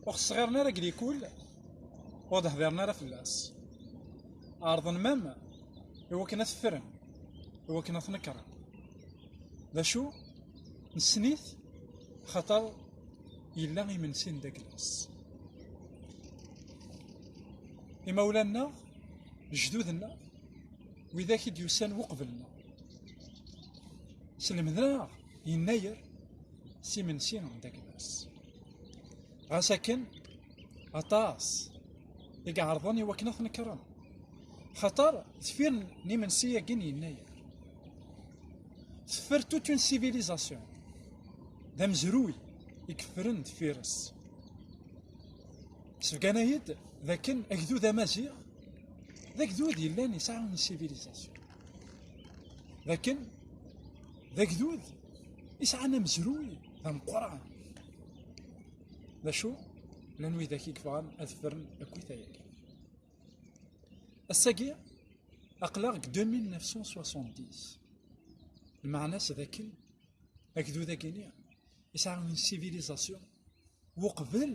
ur xesɣiren ara glikul ur d-hdiren ara fell-as ɛerḍen mam iwakken ad t-ffren iwakken ad t-nekren d acu nessen-it xaṭer yella imensi n daglas imawlan-nneɣ jdudenneɣ widak i d-yusan uqbel-nneɣ. Slemdeɣ yennayer s imensi n Dagmas. Ɣas akken, aṭas i iɛerḍen i wakken ad t-nekren. Xaṭer, tefir n imensi-agi n yennayer. Teffer toute une civilisation. D amezruy i yeffren deffir-s. Sbegana-yi-d d akken agdud amaziɣ d agdud yellan yesɛa une civilisation d akken d agdud yesɛan amezruy d ameqqran d acu llan widak i yebɣan ad fren akkit ayagi ass-agi aql-aɣ deg 2970 lmeɛna-s d akken agdud-agi-ni yesɛa une civilisation uqbel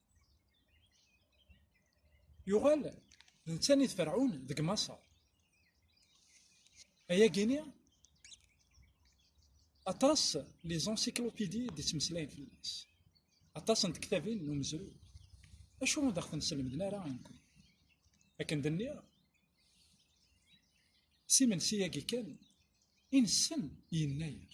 yuɣal d tani d ferɛun deg maṣer ayagini aṭas li zansiklopidi d ittmeslayen fell-as aṭas n tektabin n umezru acu ur d aɣ-ten-selmden ara inkun akken d nniɣ s imensi-yagi kan i nessen yennayer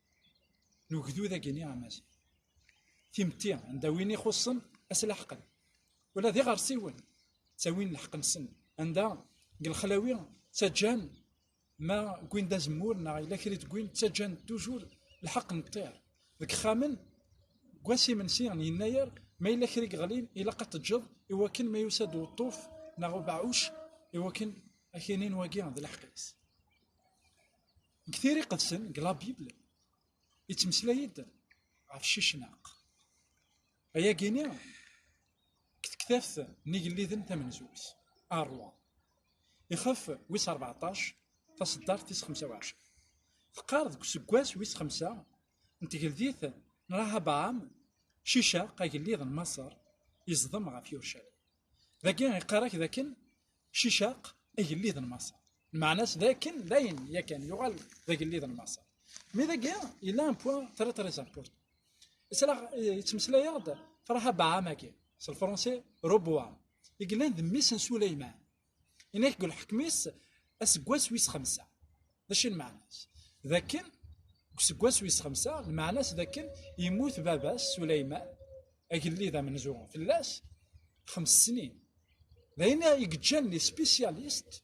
n ugdud agini amaziɣ. Timetti, anda win ixuṣṣen as laḥqen. Ula d iɣersiwen ttawin lḥeqq-nsen. Anda deg lexlawi ttaǧǧan ma wwin d azemmur neɣ yella kra d-wwin ttaǧǧan tujur lḥeqq n ṭṭir. Deg ixxamen deg wass imensi n yennayer ma yella kra yeɣlin ilaq ad teǧǧeḍ i wakken ma yusa-d uṭṭuf neɣ ubeɛɛuc i wakken akinin wagi d leḥqis. Deg tira iqedsen, deg la Bible, yettmeslay-d ɣef Cicnaq. Ayagi-ni, deg tektabt n igelliden tamenzut, Arwa, ixef wis 14, taseddart tis 25. Teqqar deg useggas wis 5 n tgeldit n Rahabaam, Cicaq, agellid n Maṣer, yeẓdem ɣef Yurcalim. dagi iqarak dakken cicaq agellid n maṣer lmeɛna-s dakken dayen yakan yuɣal d agellid n maṣer mi dagi yella un point très très important yettmeslay-aɣ-d Farha Baam-agi s lefransi Roboam i yellan d mmi-s n Suleyman ina deg lḥekm-is aseggas wis xemsa d acu lmeɛna-s d akken deg useggas wis xemsa lmeɛna-s d akken yemmut baba-s Suleyman agellid amenzu fell-as xems snin d ayen i yeǧǧan les spécialistes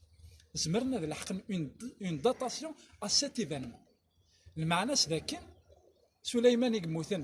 zemren ad leḥqen une datation à cet événement lmeɛna-s d akken Suleyman i yemmuten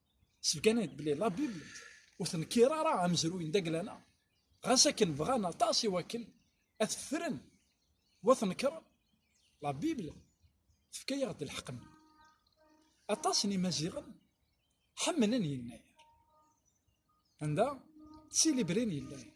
Sbegganent belli la Bible ur tenkir ara amezruy n Daglana, ɣas akken bɣan aṭas i wakken ad t-ffren u ad t-nekren, la Bible tefka-yaɣ-d lḥeqq-nni. Aṭas n Imaziɣen ḥemmlen Yennayer. Anda d tilibriyin n Yennayer.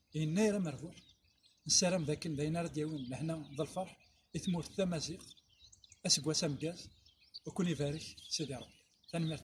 Yennayer amerbuḥ, nessaram dakken d ayen ara d-yawin lehna d lferḥ i tmurt tamaziɣt, aseggas ameggaz, ad ken-ibarek Sidi Rebbi. Tanemmirt.